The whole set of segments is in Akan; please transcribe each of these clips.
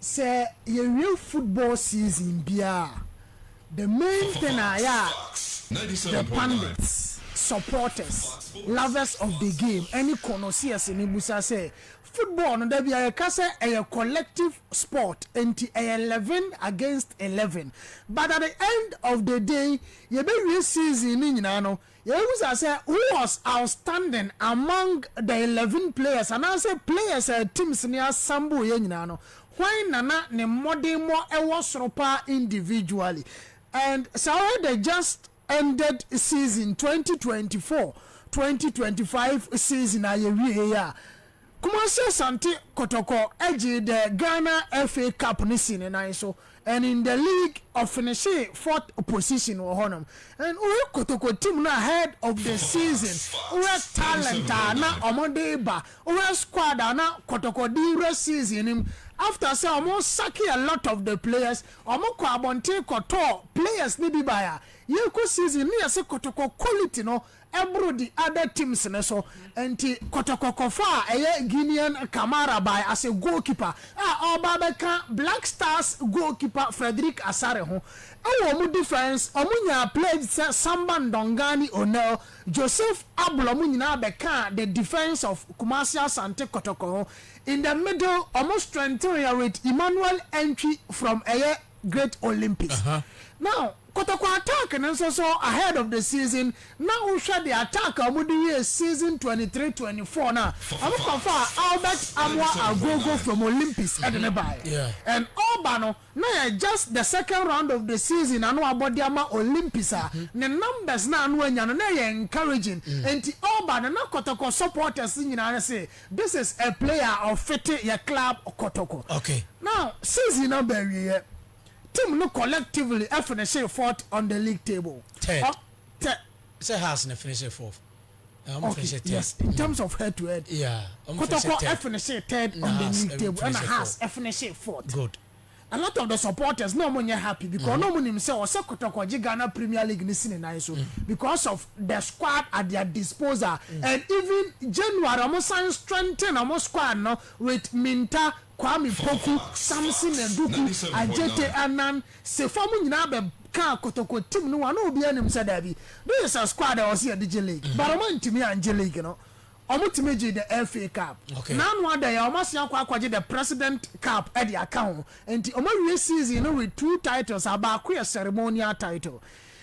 sɛ yɛwie football season biara a, the main thing a ɛyɛ a the pundits, supporters, lovers of the game ɛne connoisseurs no bisa sɛ, football no da biara yɛka sɛ ɛyɛ collective sport nti ɛyɛ eleven against eleven but at the end of the day yɛbɛwie season no nyinaa no Yebisa sɛ, Who was outstanding among the eleven players? Anaasɛ players a teams no assemble yɛ nyinaa no, hwan na na ne mmɔdenmmɔ wɔ soro paa individually? And Saurɛ the just ended season twenty twenty four, twenty twenty five season a yɛwieeɛ yi a, Kumasi Asante Kotoko gyee the Ghana FA Cup no sii ne nan so and in the league ɔfinishee fourth position wɔ hɔnom and wohwɛ Kotoko team no ahead of the season wohwɛ talent a na wɔde reba wohwɛ squad a na Kotoko de rewura season no mu after sɛ wɔsacke a lot of the players wɔkɔɔ abɔnten kɔtɔɔ players no bi baeɛ a yɛrekɔ season no na yɛse Kotoko quality no boro the other teams no so nti Kɔtɔkɔ kɔfaa ɛyɛ Guinean Kamara bae as a goalkeeper a ɔreba abɛka Black Stars goalkeeper Frederick Asare ho. Wɔ wɔn defence wɔn nyaa played sɛ Samba Ndongani Onel, Joseph Ablo wɔn nyinaa bɛkaa the defence of Kumasi Asante Kɔtɔkɔ ho. In the middle wɔn strengthened yɛ with Emmanuel Antwi from ɛyɛ Great Olympics. Now, Kotoko attack no nso so ahead of the season na wohwɛ de attack a wɔde wiee season twenty three, twenty four no a, wɔkɔfaa Albert Amoah Agogo from Olympics de no baeɛ and ɔreba no na ɛyɛ just the second round of the season na na wɔabɔ de ama Olympics a ne numbers no a na wanya no na ɛyɛ encouraging nti ɔreba no na Kotoko supporters nyinaa se this is a player a ɔfete yɛ club Kotoko. Now season no aba awieɛ. Team no collectively finished fourth on the league table. Third. Ɔ, third. Sɛ Hearts na finished fourth. Na wɔn finished third. Yes, in terms of head to head. Yeah, wɔn finished third. Kotoko finished third on the league table. Ɛna Hearts finished fourth. Good. A lot of the supporters na wɔn nyɛ happy because mm-hmm. na wɔn nim sɛ ɔsɛ Kotoko gye Ghana Premier League ne si ne nan so mm. because of the squad at their disposal mm. and even January wɔn san strengthen wɔn squad no with Minta, Kwame Poku, Samson Aduku, Adjetey Annan, Sefo mo nyinaa bɛ kaa kotoko team no ho ana obiaa nim sɛ daabi this is a squad a ɛwɔ sɛ yɛde gye league but ɔmo antumi angye league no ɔmo tumi gyee the FA cup na ano ada yi a ɔmo asan akɔ akɔgye the president cup de aka ho nti ɔmo awie season no with two titles a baako yɛ ceremonial title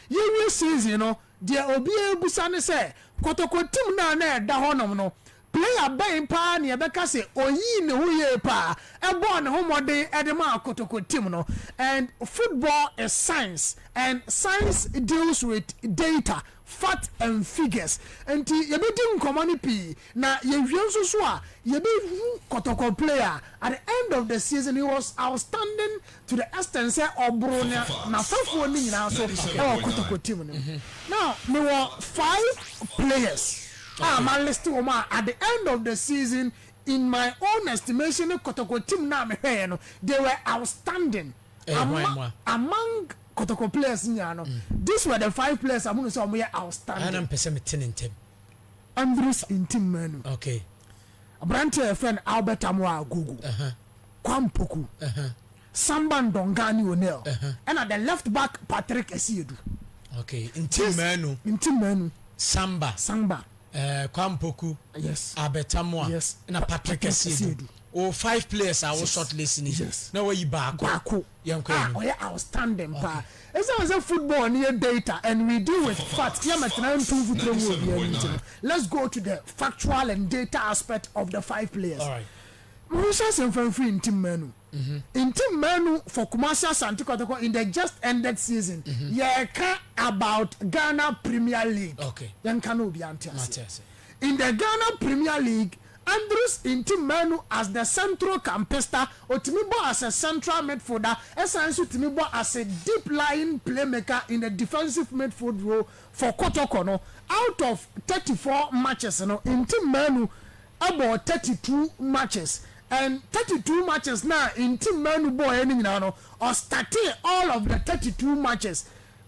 yɛwie season no deɛ obiaa bisa ne sɛ kotoko team no a na ɛda hɔ nom no Player bɛn paa na yɛbɛka sɛ oyii ne ho yie paa, bɔɔ ne ho mmɔden de maa Kotoko team no? And football is science and science deals with data, fact and figures. Nti yɛbɛdi nkɔmmɔ no pii na yɛwie nso so a yɛbɛhu Kotoko player a at the end of the season he was outstanding to the extent sɛ ɔboro nea n'afɛfoɔ no nyinaa so wɔ Kotoko team no mu. Now mewɔ five players a ma list wɔn a at the end of the season in my own estimation ne Kotoko team no a me hwɛɛ no they were outstanding ama among Kotoko players nyinaa no this were the five players a mohunu sɛ wɔyɛ outstanding. Andrews Ntim Manu. Okay. Aberanteɛ a yɛfrɛ no Albert Amoah Agogo, Kwame Opoku, Samba Ndonga ne O'Neal, ɛna the left back Patrick Asiedu. Okay, nti mmaanu. Nti mmaanu. Samba. Samba. Eh, Kwame Opoku. Yes. Albert Amoah. Yes. Na Patrick Asiedu. O five players a wo short list ni. Yes. Na wayi baako. Baako. a ɔyɛ outstanding paa. Esiane sɛ football no yɛ data and we deal with facts yɛ mɛtena ntu mfuturo ngu obiara anim nti no, let's go to the factual and data aspect of the five players. Monhyɛ ase mfa mfiri Ntim Manu. Ntim Manu for Kumasi Asante Kotoko in the just ended season. Yɛreka about Ghana Premier League. Yɛnka na obiara nte aseɛ. In the Ghana Premier League, Andrews nti mmaa nu as the central campista, otumi bɔ as a central midfielder, ɛsan nso tumi bɔ as a deep lying playmaker in the defensive midfield role for Kotoko no, out of thirty four matches no, nti mmaa nu bɔɔ thirty two matches and thirty two matches no a nti mmaa nu bɔɔeɛ no nyinaa no, ɔstartee all of the thirty two matches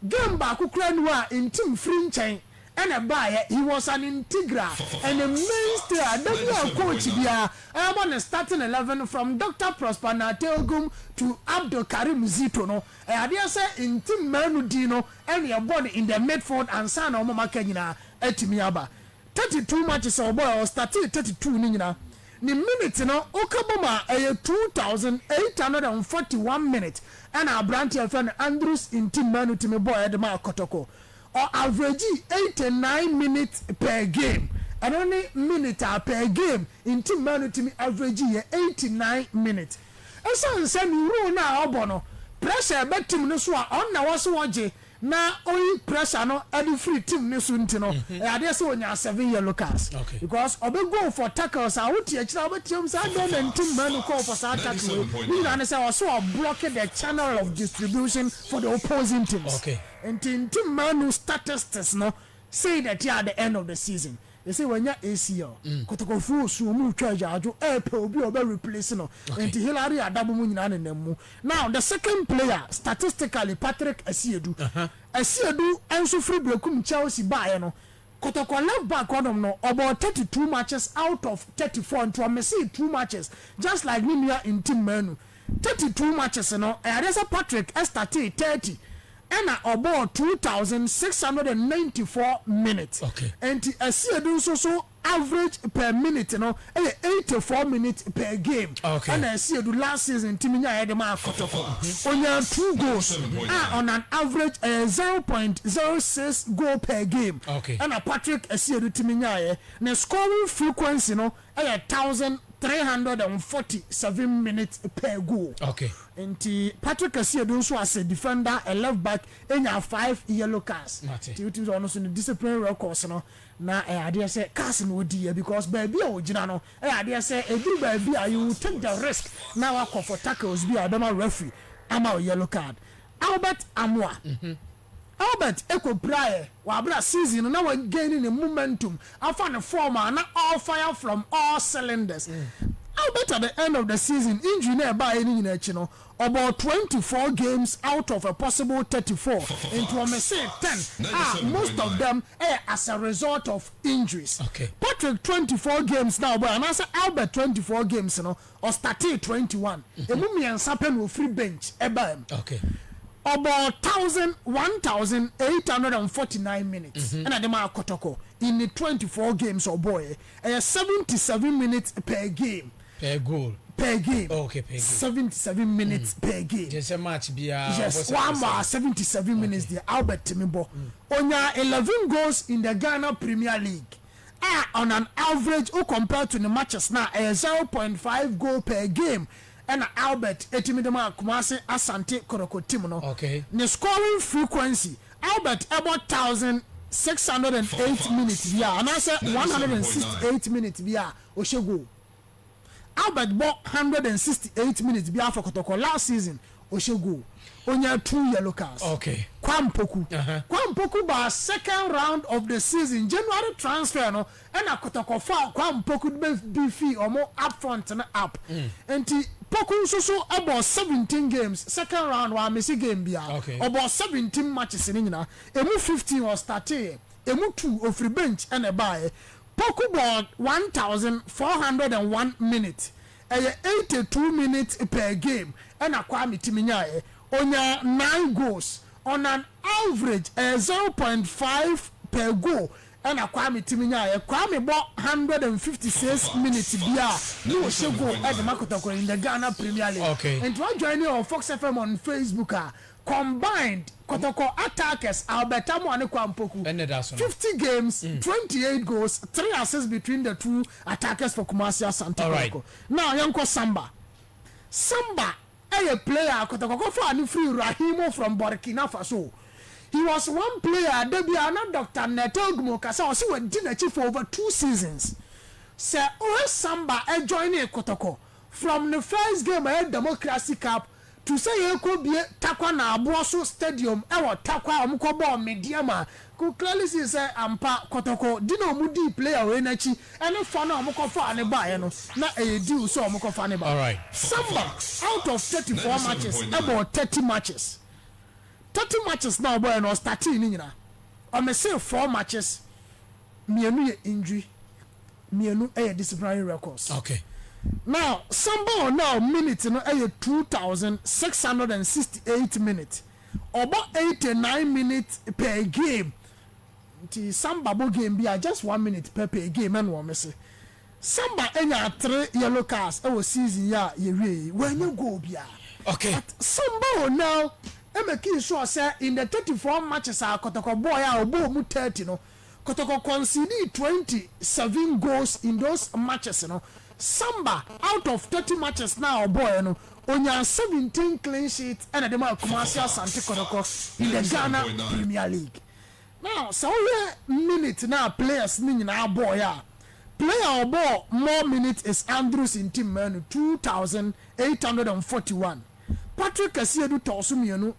Game baako koraa ni hɔ a Ntim firi nkyɛn na ɛbaeɛ, he was an integral and a mainstay a da bi a coach biara rebɔ ne starting eleven from Doctor Prosper Nartey-Ogum to Abdul Karim Zito no, ɛyɛ adeɛ sɛ Ntim mmaa no din no na ɛbɔ no in the midfield ansa na wɔn a aka nyinaa atumi aba. Thirty two matches a ɔbɔeɛ, ɔstartee thirty two no nyinaa Ne minute no woka bom a ɛyɛ two thousand eight hundred and forty one minutes ɛna aberante a yɛfrɛ no Andrews Ntimmanu tumi bɔeɛ de maa Kotoko. Ɔ averagii eighty nine minutes per game. Ɛno ne minute a per game Ntimmanu tumi averagii yɛ eighty nine minutes. Ɛsiane sɛ ne role no a ɔbɔ no pressure ba team no so a ɔno na ɛwɔ sɛ ɔgye na oyi pressure no de firi team no so nti no, ɛyɛ adeɛ sɛ ɔnyaa seven yellow cards because ɔbɛ goal for tackles a wote akyire a wobɛteam sɛ adɛn na nti Manu kɔɔ for saa tackle wei, ne nyinaa ne sɛ ɔse ɔblocke the channel of distribution for the opposing teams. Nti nti Manu statistics no sei na ɛte at the end of the season. Ese wanya ACL. Kotokofo su ɔmo twa agyaadwo ɛɛpɛ obi a ɔbɛ replace no nti Hillary Adabo mo nyinaa nenam mu. Now the second player statistically Patrick Asiedu. Asiedu nso firi Berekum Chelsea baeɛ no Kotoko left back hɔ nom no ɔbɔɔ thirty two matches out of thirty four nti ɔmissee two matches just like ne nua Ntim Manu. Thirty two matches no, ɛyɛadeɛ sɛ Patrick startee thirty ɛna ɔbɔɔ two thousand six hundred and ninety four minutes. Okay. Ɛnti Asiedu nso so average per minute no ɛyɛ eighty four minutes per game. Okay. Ɛna Asiedu last season tumi nyaeɛ de maa Kotoko. Ɔnyaa two goals a on an average ɛyɛ zero point zero six goal per game. Okay. Ɛna Patrick Asiedu tumi nyaeɛ. Ne scoring frequency no Ɛyɛ thousand three hundred and forty seven minutes per goal Okay. nti Patrick Asiedu nso as a defender a left back enya five yellow cards Mate. nti wotumi sɛ ɔno nso ne discipline records no na ɛyɛ adeɛ sɛ cars na ɔdi yɛ because baabi a ɔgyina no ɛyɛ adeɛ sɛ ɛduru baabi a you will take the risk na wakɔ for tackles bi a ɛbɛma referee ama wo yellow card Albert Amoah. Albert kɔ piraeɛ wɔ aberɛ a season no na wa gaini ne momentum afa ne form a na ɔɔ fire from all cylinders. Albert at the end of the season injury no a ɛbaeɛ no nyinaa akyi no ɔbɔɔ twenty four games out of a possible thirty four nti wɔmesee ten a most of them yɛ as a result of injuries. Patrick twenty four games no a ɔbɔeɛ anaasɛ Albert twenty four games no ɔstartee twenty one, ɛmu mmiɛnsa pɛ na ɔfiri bench baa mu. Ɔbɔɔ thousand, one thousand eight hundred and forty nine minutes ɛna de maa Kɔtɔkɔ in the twenty four games a ɔbɔeɛ. Ɛyɛ seventy seven minutes per game. Per goal. Per game. Oh, okay, per game. Seventy seven minutes per game. Kyerɛ sɛ match biara Yes, ɔbɔ wɔn ama a seventy seven minutes deɛ Albert tumi bɔ. Ɔnyaa eleven goals in the Ghana Premier League. a on an average wo compare to ne matches no a ɛyɛ zero point five goal per game na Albert tumi de ma Kumasi Asante Koroko team no. Okay. Ne scoring frequency, Albert bɔ one thousand six hundred and eight minutes biara anaasɛ one hundred and sixty eight minutes biara a ɔhyɛ goal. Albert bɔ hundred and sixty eight minutes biara for Kɔtɔkɔ last season ɔhyɛ goal ɔnyaa two yellow cards Okay. Kwa Mpoku Aha. Kwa Mpoku baa second round of the season January transfer no ɛna Kɔtɔkɔ faa Kwa Mpoku de bɛ bi fii wɔn up front no up nti Poku nso so bɔɔ seventeen games second round wammisi game biara Okay. ɔbɔɔ seventeen matches no nyinaa ɛmu fifteen ɔstarteeɛ ɛmu two ɔfiri bench ɛna ɛbaeɛ Poku bɔɔ one thousand four hundred and one minutes, ɛyɛ eighty two minutes per game ɛna Kwame tumi nyaeɛ. Ɔnyaa nine goals on an average, ɛyɛ zero point five per goal ɛna Kwame tumi nyaeɛ. Kwame bɔ one hundred and fifty six minutes biara na ɔhyɛ goal de ma Kotɔkora in the Ghana Premier League. Nti wa joine yɛn wɔ Fox FM on Facebook a, Combined Kotoko attackers Albert Amoah ne Kwan Poku, fifty games, twenty eight goals, three assists between the two attackers for Kumasi Asante Kotoko. Now yɛnkɔ Samba. Samba yɛ player a Kotoko kɔfaa no firii Raheemou from Burkina Faso. He was one player a da biara na Doctor Neto Ogmo ka sɛ ɔse wadi n'akyi for over two seasons. Sɛ wohwɛ Samba joinee Kotoko from ne first game a ɛyɛ Democracy Cup To sɛ yɛkɔ bie Tarkwa na Aboɔso stadium wɔ Tarkwa a wɔkɔ bɔɔ Medeɛm a could clearly see sɛ ampa kɔtɔkɔ di na wɔn dii player wei no akyi ɛne fa no a wɔn kɔ faa no baeɛ no na ɛyɛ deal sɛ wɔn kɔ fa no ba. Samba out of thirty four matches bɔɔ thirty matches thirty matches na ɔbɔeɛ no ɔstartee ne nyinaa ɔmissee four matches mienu yɛ ndwi, mienu yɛ disciplinary records. Okay. Now, Samba wɔ now minute no yɛ two thousand six hundred and sixty eight minute. Ɔbɔ eighty nine minute per game. Nti Samba bɔ game bi a just one minute pɛ per game ɛna wɔn se. Samba nyaa three yellow cards wɔ season yi a yɛwie yi. Wanya goal biara. Okay. But Samba wɔ now makii sure sɛ in the thirty four matches a Kɔtɔkɔ bɔɔe a ɔbɔɔ mu thirty no. Kotoko conceded twenty seven goals in those matches no, Samba out of thirty matches no a ɔbɔɔɛ no, ɔnyaa seventeen clean sheets na de maa Kumasi Asante Kotoko in the Ghana Premier League. Now, sɛ wohwɛ minute no a players no nyinaa bɔɔɛ a, player a ɔbɔɔ more minutes is Andrews Ntimanu, two thousand eight hundred and forty one. Patrick Kasiedu tɔɔ so mmienu,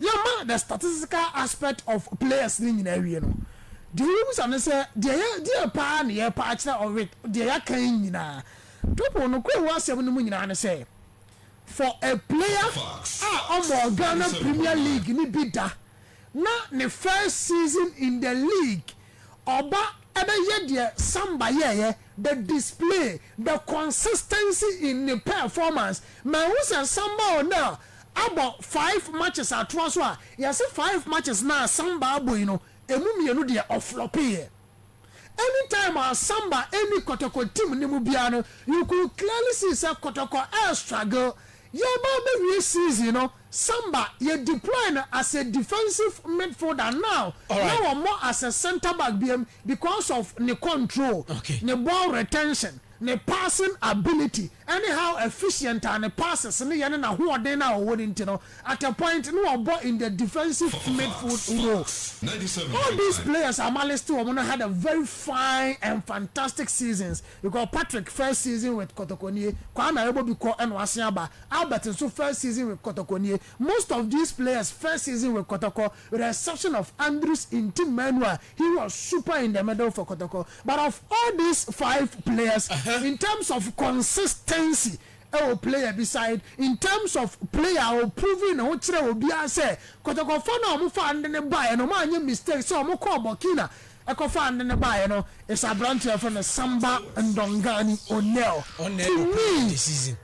yɛma the statistical aspect of players no nyinaa wie no, deɛ wobɛbisa ne sɛ, deɛ yɛ, deɛ paa na yɛrepɛ akyerɛ ɔ with deɛ yɛaka yi nyinaa? Topol, nokorɛ wɔ asɛm no mu nyinaa ne sɛ, for a player a ɔmmɔɔ Ghana Premier League no bi da, na ne first season in the league, ɔba bɛyɛ deɛ Samba yɛeɛ, the display, the consistency in ne performance, ma ɛhu sɛ Samba ɔnɛ a abɔ five matches atoa so a, yɛse five matches no a Samba abɔ yi no, ɛmu mmienu deɛ ɔflɔpeeɛ. Any time a Samba ɛnni Kɔtɔkɔ team no mu biara no, you could clearly see sɛ Kɔtɔkɔ ɛrestruggle. Yɛreba abɛwie season no, Samba, yɛ deploy no as a defensive midfielder now na wɔmmɔ as a centre back biom, Because of ne control, ne ball retention, ne passing ability, ne how efficient a ne passes no yɛ ne n'ahoɔden no a ɔwɔ no nti no, at a point na ɔbɔ in the defensive midfield role. All these players a maliste wɔn no had a very fine and fantastic seasons because Patrick first season with Kotoko nie, Kwame Ayebobi kɔ na wasan aba, Albert nso first season with Kotoko nie, most of these players first season with Kotoko reception of Andrew's intim manual he was super in the middle for Kotoko but of all these five players in terms of consistency ɛwɔ player bi side in terms of player a ɔ proving ne ho kyerɛɛ obiara sɛ Kotoko fɔ no a ɔmo faa nde no baeɛ no ɔmo anyɛ mistake sɛ ɔmo kɔɔ Burkina ɛkɔfaa nde no baeɛ no is abranteɛ a yɛfrɛ no Samba Ndongani O'Neal to me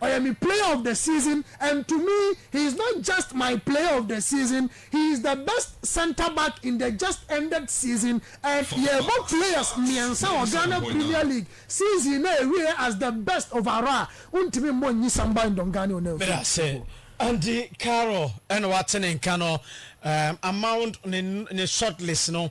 ɔyɛ me player of the season and to me he is not just my player of the season He is the best centre back in the just ended season and yɛbɔ players mmiɛnsa wɔ Ghana Premier League season no a ɛwieɛ as the best overall a wontumi mmɔ nnyi Samba Ndongane Onamfo. Medase. Andy Carroll na wate ne nka no. Amount ne ne shortlist no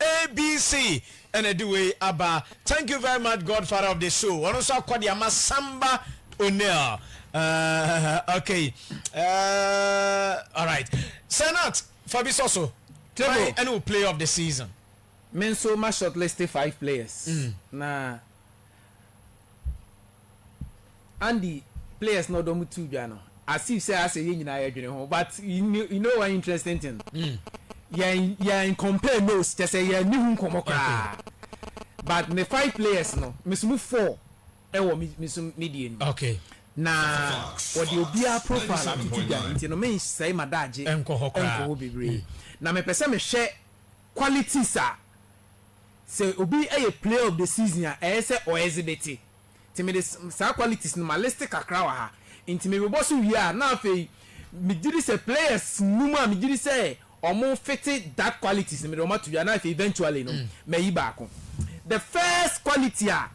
ABC na ɛde wei aba. Thank you very much God father of the show ɔno nso akɔ de ama Samba O'Neal uh, okay uh, alright Senat fa bi sɔ so table ɛne wo player of the season. Me nso ma shortlist five players mm. na Andy players na ɔdɔ mo tu dwa no as if sɛ asɛ yɛn nyinaa yɛ dwene ho but you know one interesting thing yɛn yɛn compare nose kyɛ sɛ yɛn ni ho nkɔmɔ koraa but me five players no me so mu four ɛwɔ me me so me deɛ ni okay na wɔde obiara profile atutu dwa nti no me nsɛe ma daagye ɛnkɔ hɔ koraa ɛnkɔ hɔ bebree na me pɛ sɛ me hwɛ qualities a sɛ obi yɛ player of the season a ɛyɛ sɛ ɔ exhibite nti mede saa qualities no ma list kakra wɔ ha nti mebobɔ so wie a na afei megye di sɛ players num a megye di sɛ ɔmo fete that qualities no mede ɔmo ato dwa na afei eventually no mayi baako the first quality a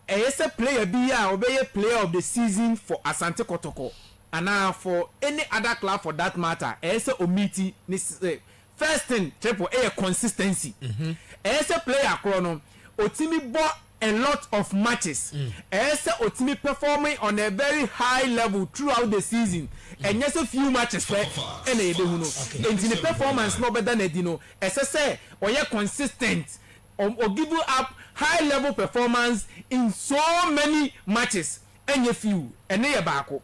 Ɛyɛ sɛ player bi a ɔbɛyɛ player of the season for Asante Kɔtɔkɔ anaa for any other club for that matter ɛyɛ sɛ ɔmeeti ne sɛ first thing Triple yɛ consistency. Ɛyɛ sɛ player korɔ no ɔtumi bɔ a lot of matches, ɛyɛ sɛ ɔtumi perform on a very high level throughout the season, ɛnyɛ sɛ few matches pɛ na yɛbɛhu no. Ɛnti ne performance no a ɔbɛda no adi no ɛsɛ sɛ ɔyɛ consistent. Ɔm o give up high level performance in so many matches ɛnyɛ few ɛno yɛ baako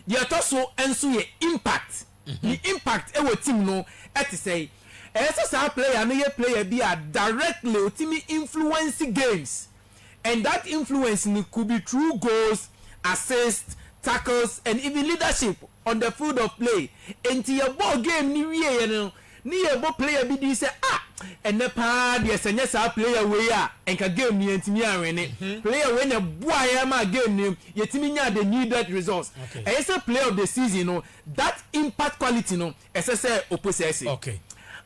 deɛ ɛtɔ so nso yɛ impact ne impact ɛwɔ team no ɛte sɛn ɛyɛ sɛ saa player no yɛ player bi a directly ɔtumi influence games and that influence no could be through goals, assists, tackles and even leadership on the field of play. Enti yɛbɔɔ game no wieeɛ no ne yɛrebɔ player bi din sɛ ah ɛnnɛ paa deɛ sɛ ɛnyɛ saa player wei a nka game no yɛntumi anwene. Player wei na ɛboaa yɛn maa game no yɛtumi nyaa the needed results. Ɛyɛ sɛ player of the season no that impact quality no ɛsɛ sɛ opo sɛ ɛse.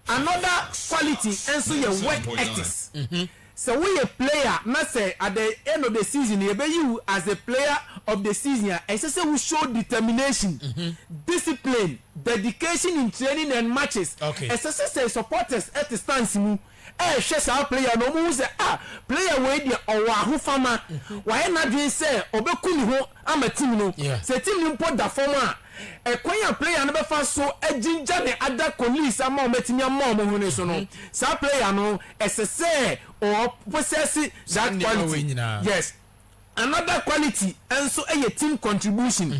Another quality nso yɛ work ethics. Sɛ woyɛ player na sɛ at the end of the season yɛbɛyi wo as the player of the season a, ɛsɛ sɛ wo show determination, discipline, dedication in training and matches. Ɛsɛ sɛ sɛ supporters te stands mu rehwɛ saa player no, wɔhu sɛ ah, player wei deɛ ɔwɔ ahofama, wayɛ n'adwene sɛ ɔbɛku ne ho ama team no. Sɛ team no mpo da fam a, ɛkwan a player no bɛfa so agyingya ne other colleagues ama wɔatumi ama wɔn hwene so no, saa player no, ɛsɛ sɛ ɔ possess that quality. Yes. Another quality nso yɛ team contribution.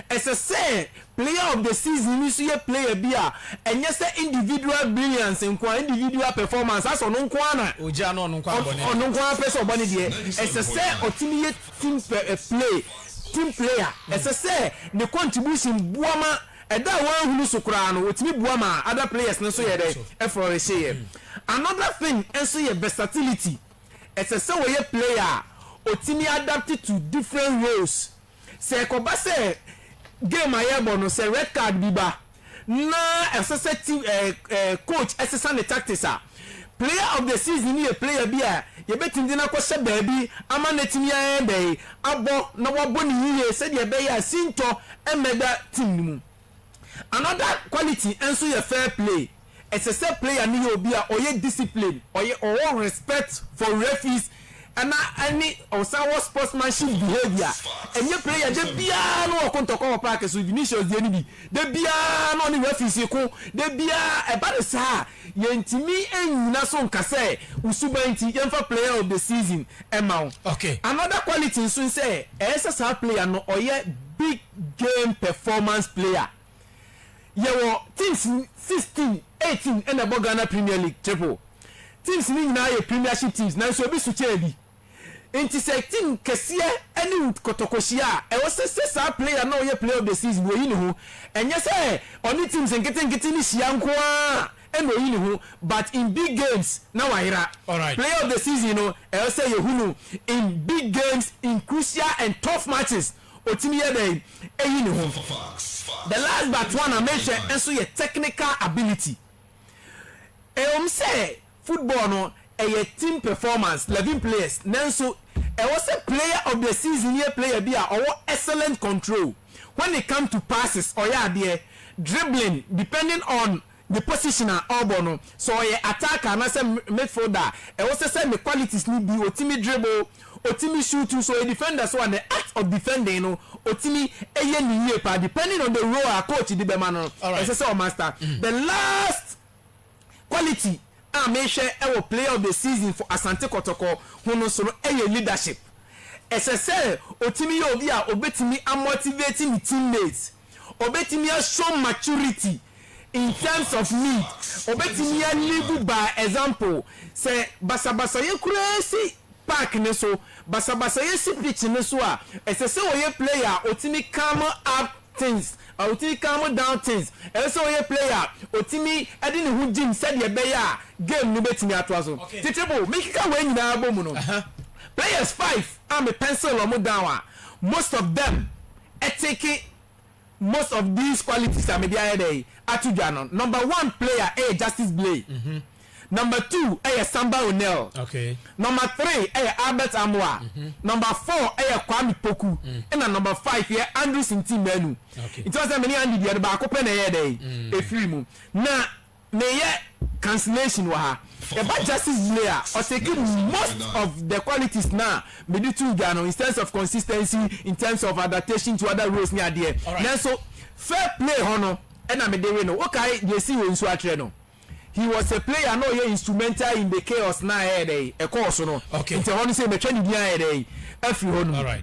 Ɛsɛ sɛ player of the season no nso yɛ player bi a ɛnyɛ sɛ individual brilliance nko ara, individual performance, asɛ ɔno nko ara na Ogya na ɔno nko ara bɔ ne deɛ. ɔno nko ara pɛ sɛ ɔbɔ ne deɛ. Ɛsɛ sɛ ɔtumi yɛ team pɛ, play, team player. Ɛsɛ sɛ ne contribution boa ma ɛda a wɔanhunu so koraa no, ɔtumi boa ma other players no nso yɛ dɛn? Ɛflɔrehyeyɛ. Another thing nso yɛ versatility. ɛsɛ sɛ wɔyɛ player a ɔtumi adapt to different roles. Sɛ ɛkɔba sɛ game a yɛrebɔ no sɛ red card bi ba na ɛsɛ sɛ team ɛɛ ɛɛ coach ɛsesa ne tactics a, player of the season no yɛ player bi a yɛbɛtumi de no akɔhyɛ baabi ama no atumi ayɛ dɛn? abɔ na wabɔ no yie sɛdeɛ ɛbɛyɛ a sintɔ mmɛda team no mu. Another quality nso yɛ fair play. Ɛsɛ sɛ player no yɛ obi a ɔyɛ discipline, ɔyɛ ɔwɔ respect for referees na ɛne ɔsan wɔ sportsmanship behaviour. Ɛnyɛ player da biara na ɔko ntɔkwa wɔ park so, Vinicius deɛ no bi, da biara na ɔne referees reko, da biara, ɛba no saa a, yɛntumi nnyina so nka sɛ wo suban nti yɛmfa player of the season mma wo. Another quality nso ne sɛ ɛyɛ sɛ saa player no ɔyɛ big Game Performance Player. Yɛwɔ teams sixteen, eighteen ɛna ɛbɔ Ghana Premier League triple. Teams no nyinaa yɛ Premiership teams nanso ebi so kyɛn ebi. Nti sɛ team kɛseɛ ɛne wo kɔtɔkɔ hyia a, ɛwɔ sɛ sɛ saa player no a ɔyɛ Player of the Season no ɔyi ne ho. Ɛnyɛ sɛ ɔne teams nketenkete no hyia nko ara ɛna ɔyi ne ho but in big games na wayera. Alright. Player of the Season no ɛwɔ sɛ yɛhu no in big games, in crucial and tough matches. Otumi yɛ dɛn eyi ne ho? The last but one a mehwɛ nso yɛ technical ability. Ɛwom sɛ football no ɛyɛ team performance, levin players, nanso ɛwɔ sɛ player of the season yɛ player bi a ɔwɔ excellent control when it come to passes, ɔyɛ adeɛ, dribbling, depending on Ne position a ɔbɔ no, sɛ ɔyɛ attacker anaasɛ midfielder a, ɛwɔ sɛ sɛ ne qualities no bi, ɔtumi dribble, ɔtumi shoot nso ɔyɛ defender nso a, ne act of defending no, ɔtumi yɛ no yie paa, depending on the role a coach de bɛma no no, ɛsɛ sɛ ɔmaster. The last quality a mehwɛ wɔ player of the season for Asante Kɔtɔkɔ ho no nso no yɛ leadership. Ɛsɛ sɛ ɔtumi yɛ obi a ɔbɛtumi amotivate ne teammates. Obetumi a show maturity in terms of need, obetumi a live by example. Sɛ basabasayɛ koraa si park no so, basabasayɛ si pitch no so a, ɛsɛ sɛ ɔyɛ player a otumi calm up things, otumi calm down things. Ɛsɛ sɛ ɔyɛ player a otumi de ne ho gyim sɛdeɛ ɛbɛyɛ a game no betumi atoa so. Tete Bo, mekeka wei nyinaa bɔ mu no, players five a me pencil wɔn down a, most of them, take most of these qualities a mede ayɛ dɛn ato dwa no, number one player ɛyɛ Justice Blay, number two ɛyɛ Samba O'Neal, number three ɛyɛ Albert Amoah, number four ɛyɛ Kwame Poku, ɛna number five yɛ Andrew Sintin Manu. Nti woahu sɛ me ne Andy deɛ no baako pɛ na ɛyɛɛ dɛn ɛfiri mu. Na meyɛ cancellation wɔ ha. Ɛba justice delay a, ɔtake most of the qualities no a mede too dwa no in terms of consistency, in terms of adaptation to other roles ne adeɛ. Nanso fair play hɔ no na mede we no. Wokae deɛ ɛsii wɔ Nsuatrɛ no? He was a player na ɔyɛ instrumental in the chaos no a ɛyɛ dɛn ɛkɔɔ so no. Nti ɛhɔ no sei matwa ne din ayɛ dɛn afiri hɔ nom.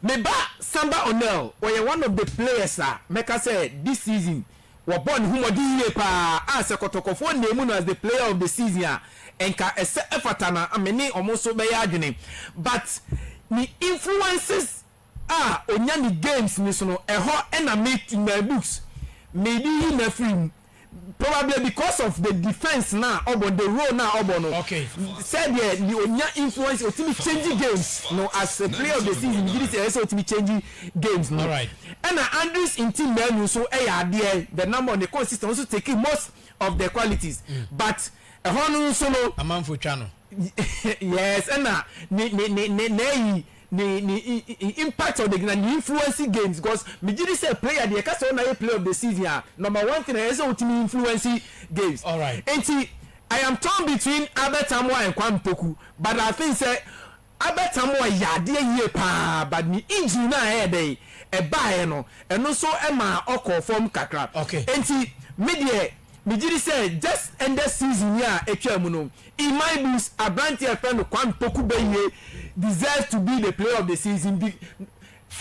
Me ba Samba Onel, ɔyɛ one of the players a mɛka sɛ this season Wɔbɔɔ ne ho mmɔden yiye paa a sɛ kɔtɔkɔfoɔ nnaa mu no as the player of the season a nka ɛsɛ ɛfata na me ne wɔn nso bɛyɛ adwene but ne influences a ɔnya ne games no so no ɛhɔ na me in my books mede yi no afiri mu probably because of the defence no a ɔbɔ no the role no a ɔbɔ no sɛdeɛ ɔnya influence ɔtumi change games no as a player of the season megye di sɛ ɛyɛ sɛ ɔtumi change games no ɛna Andries nti mmaanu nso yɛ adeɛ the number ɔne consistent ɔno nso tekii most of the qualities but ɛhɔ no nso no amanfo twa no yes ɛna ne ne ne ne n'ayi ne ne impact ɔde gyina ne influence games because megye di sɛ player deɛ ɛka sɛ ɔna yɛ player of the season a number one thing ɛyɛ sɛ wotumi influence games nti I am torn between Albert Amoah and Kwame Poku but I think sɛ Albert Amoah yɛ adeɛ yie paa but ne injury no a ɛyɛ dɛn ɛbaeɛ no ɛno nso maa ɔkɔɔ fam kakra Okay. enti me deɛ megye di sɛ just ɛndɛ season yi a atwaa mu no in my books aberanteɛ a yɛfrɛ no Kwame Poku Bayie deserves to be the player of the season be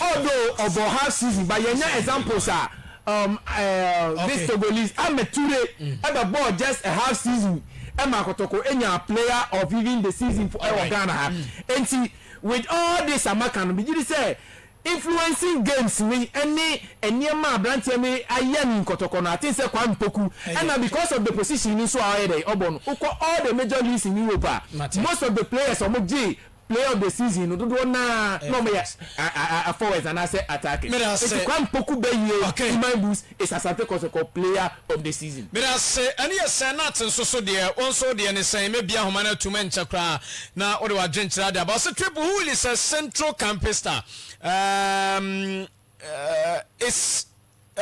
Although ɔbɔ half season but yɛnya examples a um, uh, this Togolese Ahmed Toure ɛbɛbɔɔ just a half season ɛma Kotoko enya player of even the season for ɛwɔ Ghana ha. Enti with all this a maka no megye di sɛ influencing games wei ɛne nneɛma a aberanteɛ no ayɛ ne nkɔtɔkɔ no I think sɛ Kwame Poku ɛna because of the position no nso a ɔyɛ dɛn ɔbɔ no wokɔ all the major leagues in Europe a most of the players a wɔgye Player of the season no dodoɔ no ara na wɔyɛ a forwards anaasɛ attackers. Enti Kwame Poku bɛyie Iman Bulls is Asante Kɔtɔkɔ player of the season. Medase. Ɛno yɛ sɛn? Nate nso so deɛ? Wo nso wo deɛ ne sɛn? Mɛbie ahoma no atom ɛnkyɛ koraa na wode w'adwenkyerɛ ade aba. Ɔse Twebe Hull is a central campista. Um, uh, is, uh.